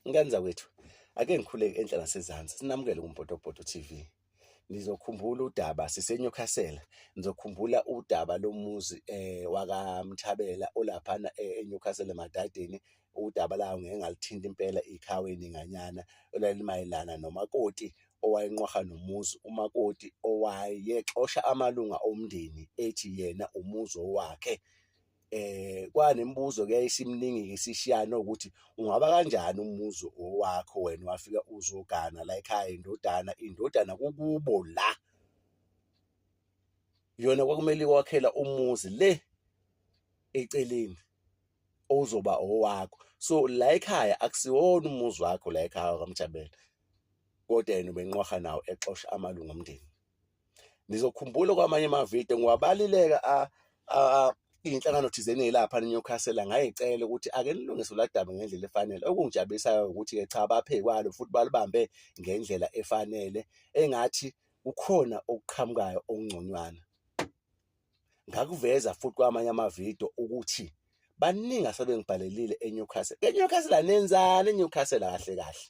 Ngani zakwethu, ake ngikhuleke enhla nasezansi, sinamukele kuMpotopoto TV. Nizokhumbula udaba siseNewcastle, nizokhumbula udaba lomuzi eh wakaMthabela olaphana eh, eNewcastle emadadeni udaba lawo ngeke ngalithinta impela ikhawe ninganyana elalimayelana nomakoti owayenqwaha nomuzi umakoti owayexosha amalunga omndeni ethi yena umuzi owakhe eh kwanemibuzo ke isimningi ke sishiyana ukuthi ungaba kanjani umuzi owakho wena wafika uzogana la ekhaya indodana indodana kukubo la yona kwakumele kwakhela umuzi le eceleni ozoba owakho so la ekhaya akusiwona umuzi wakho la ekhaya kamjabela kodwa yena ubenqwaha nawo exosha amalungu omndeni nizokhumbula kwamanye amavidiyo ngiwabalileka iy'nhlangano thizeni ey'lapha nenyukhasela ngayicela ukuthi ake nilungise uladaba ngendlela efanele okungijabulisayo ukuthi-ke cha baphekwalo futhi balibambe ngendlela efanele engathi kukhona okuqhamukayo okungconywana ngakuveza futhi kwamanye amavidiyo ukuthi baningi asebengibhalelile eNewcastle eNewcastle anenzani eNewcastle kahle kahle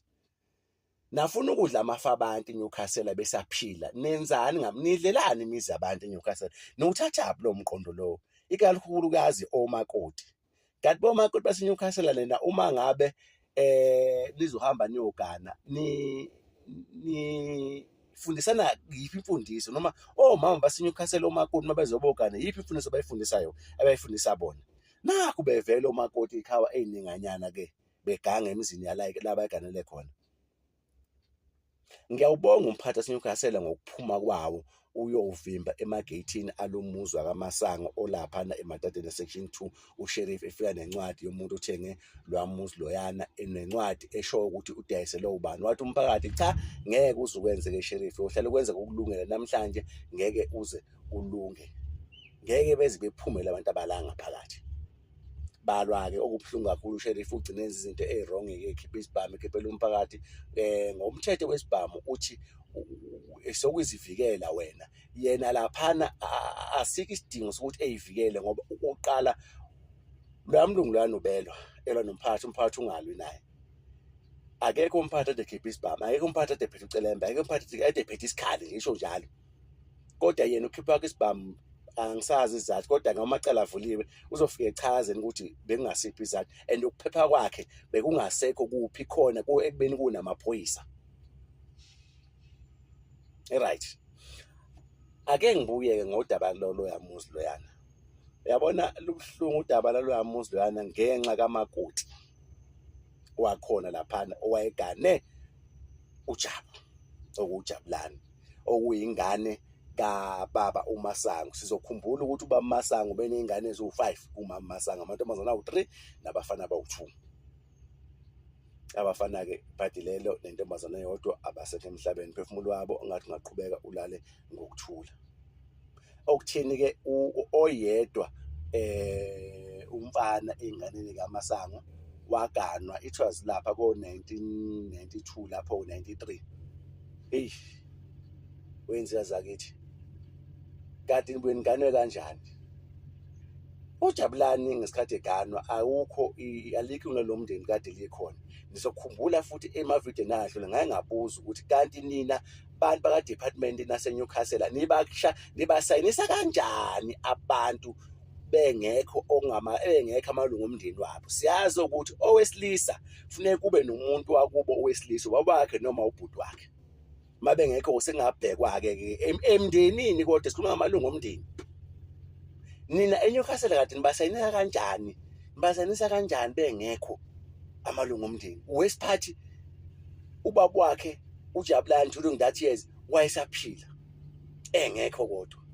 nafuna ukudla amafa abantu eNewcastle besaphila nenzani ngam nidlelani imizi yabantu eNewcastle nokuthathaphi lo mqondo lowo ikakhulukazi omakoti kanti bomakoti baseNewcastle lena uma ngabe eh nizohamba niyogana ni ni fundisana yiphi imfundiso noma omama baseNewcastle omakoti mabezobogana yiphi imfundiso abayifundisayo abayifundisa bona naku bevele omakoti ikhawa eyininganyana ke beganga emizini yalike la bayiganele khona ngiyawubonga umphathi waseNewcastle ngokuphuma kwawo uyovimba emageyithini alomuzwa kamasango olaphana emadadeni section 2 usheriff efika nencwadi yomuntu othenge lwamuzi loyana enencwadi esho ukuthi udayiselwe ubani wathi umphakathi cha ngeke uze ukwenzeke sheriff uhlale kwenzeka ukulungela namhlanje ngeke uze ulunge ngeke beze bephumele abantu abalanga phakathi balwa-ke okubuhlungu kakhulu usherifu ugcine enza izinto eyi-wrong-ke ekhipha isibhamu ekhiphela umphakathi um ngomthetho wesibhamu uthi sokuzivikela wena yena laphana asikho isidingo sokuthi eyivikele ngoba ukuqala loya mlungu loya nobelwa elwa nomphakathi umphakathi ungalwi naye akekho umphathi ade khipha isibhamu akekho umphathi ade phethe ucelembe akekho umphathi ade phethe isikhali ngisho njalo kodwa yena ukhipha kwakhe isibhamu angisazi izathu kodwa noma amacala avuliwe uzofike echazeni ukuthi bekungasiphi izathu and ukuphepha kwakhe bekungasekho kuphi khona ekubeni kunamaphoyisa right ake ngibuyeke ngodaba loloya muzi loyana uyabona lubuhlungu udaba laloya muzi loyana ngenxa kamakoti wakhona laphana owayegane uJabu okuJabulani okuyingane kababa uMasango sizokhumbula ukuthi ubaba uMasango beneyingane eziwu-5 kumama uMasango amantombazana awu-3 nabafana abawu-2 abafana-ke ibhadi lelo nentombazana yodwa abasekho emhlabeni phefumulo wabo ongathi ungaqhubeka ulale ngokuthula okuthini ke oyedwa eh umfana enganeni kaMasango waganwa it was lapha ko 1992 lapho 93 hey wenziwa zakithi kade nibweni ganwe kanjani ujabulani ngesikhathi eganwa awukho alikho lomndeni kade likhona nizokhumbula futhi emavideo nadlule ngaye ngabuza ukuthi kanti nina abantu baka department nase Newcastle nibaksha nibasayinisa kanjani abantu bengekho okungama engekho amalungu omndeni wabo siyazi ukuthi owesilisa funeka kube nomuntu wakubo owesilisa wabakhe noma ubhuti wakhe mabe ngekho sengabhekwa-ke ke emndenini kodwa sikhuluma ngamalungu omndeni nina enyukhasela kade nibasayinisa kanjani nibasayinisa kanjani bengekho amalungu omndeni wesiphathi ubaba wakhe ujabulani during that years wayesaphila engekho kodwa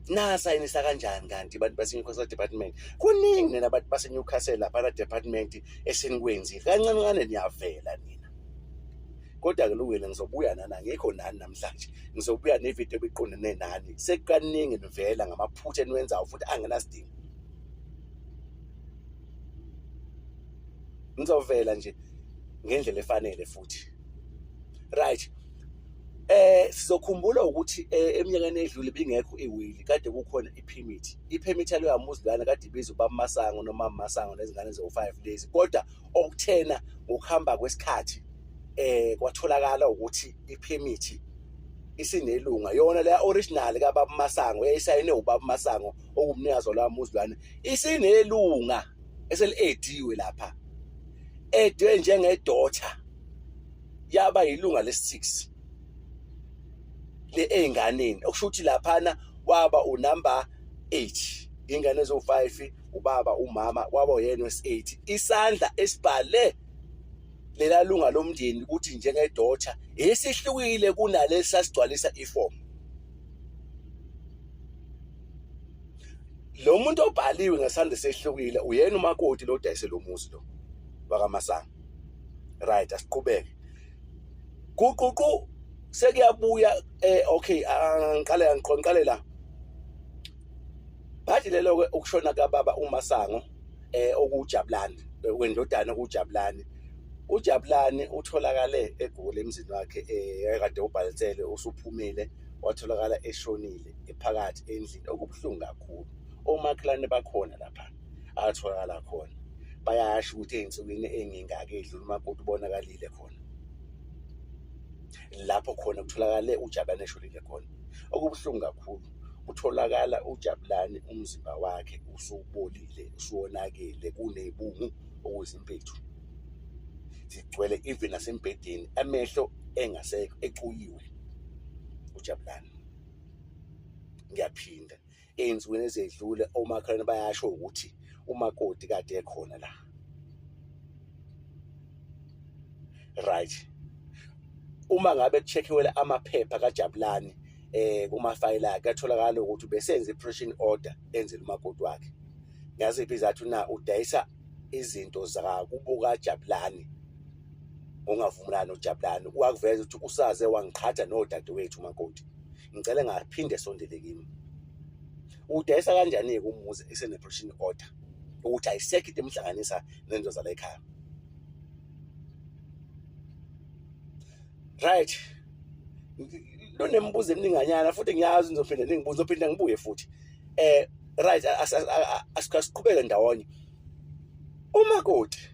nasayinisa kanjani kanti abantu base-newcastle department kuningi nina abantu base-newcastle laphana department esenikwenzile kancane kancane niyavela nina kodwa-ke lungile ngizobuya nani angikho nani namhlanje ngizobuya nevidiyo ebiqondene nani sekukaningi nivela ngamaphutha eniwenzayo futhi angenasidingo ngizovela nje ngendlela efanele futhi right eh sizokhumbula ukuthi eh, eminyakeni edlule bingekho iwili kade kukhona iphimithi iphimithi yalo yamuzilana kade ibiza ubamasango noma masango nezingane zo5 days kodwa okuthena ngokuhamba kwesikhathi eh kwatholakala ukuthi iphimithi isinelunga yona le original kababa Masango eyisayine ubaba Masango okumnikazi lwamuzilwane isinelunga eseliediwe lapha edwe njengedotha yaba yilunga lesi-6 le ey'nganeni okusho ukuthi laphana waba unumber 8 ingane ezo-5 ubaba umama kwaba uyena wesi-8 isandla esibhale lela lunga lomndeni ukuthi njengedotha esihlukile kunalesi sasigcwalisa ifomu lo muntu obhaliwe ngesandla sehlukile uyena umakoti lo dayise lo muzi lo wakamasanga right asiqhubeke kuququ sekuyabuya eh okay angiqale angiqonqale la bathi lelo ke ukushona kababa umasango eh okujabulani wendodana okujabulani ujabulani utholakale egoli emzini wakhe eh kade ubhalisele usuphumile watholakala eshonile ephakathi endlini okubuhlungu kakhulu omakhelwane bakhona lapha atholakala khona bayasho ukuthi ey'nsukwini engingaki edlula umakoti ubonakalile khona lapho khona kutholakale ujabulane esholile khona okubuhlungu kakhulu kutholakala ujabulane umzimba wakhe usubolile usuwonakele kunebungu okuzimpethu zigcwele even nasembhedeni amehlo engasekho ecuyiwe ujabulane ngiyaphinda ey'nsukwini ezedlule omakhelwane bayasho ukuthi umakoti kade ekhona la right uma ngabe kuchekiwele amaphepha kajabulani eh kumafayela akhe atholakala ukuthi besenze i-pressing order enzela umakoti wakhe ngaziphi izathu na udayisa izinto zakakubuka jabulani ungavumelani nojabulani wakuveza ukuthi usaze wangiqhatha nodadewethu umakoti ngicela ngaphinde sondele kimi udayisa kanjani-ke umuzi eseneprotection order ukuthi ayisekho into emhlanganisa nento zala ekhaya right lonemibuzo emininganyana futhi ngiyazi ngizophinde ningibuze zophinde ngibuye futhi eh right asiqhubeke ndawonye umakoti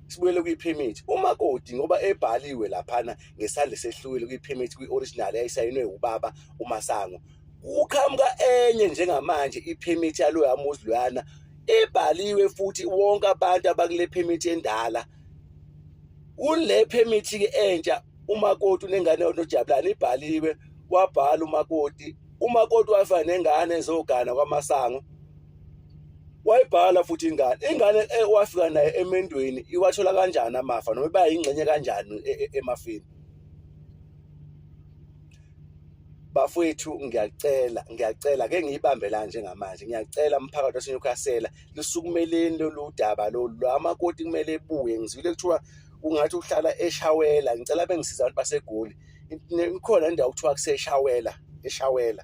sibuyele kwi-permit umakoti ngoba ebhaliwe laphana ngesandla sehlukile kwi-permit kwi-original eyayisayinwe ubaba umasango kuqhamuka enye njengamanje i-permit yaloya muzi loyana ibhaliwe futhi wonke abantu abakule permit endala kule permit ke entsha umakoti unengane onojabulani ibhaliwe wabhala umakoti umakoti wafana nengane ezogana kwamasango wayibhala futhi ingane ingane eh, wafika naye emendweni iwathola kanjani amafa noma iba yingxenye kanjani e, e, emafini bafowethu ngiyacela ngiyacela ke ngiyibambe la njengamanje ngiyacela umphakathi waseNewcastle lisukumeleni lolu daba lolu lwamakoti kumele ebuye ngizwile kuthiwa ungathi uhlala eshawela ngicela bengisiza abantu basegoli ikhona indawo kuthiwa kuseshawela eshawela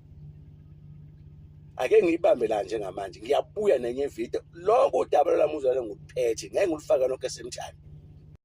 ake ngiyibambe la njengamanje ngiyabuya nenye video lokho udaba lwami uzwale ngikuphethe ngeke ngilufake lonke esemthani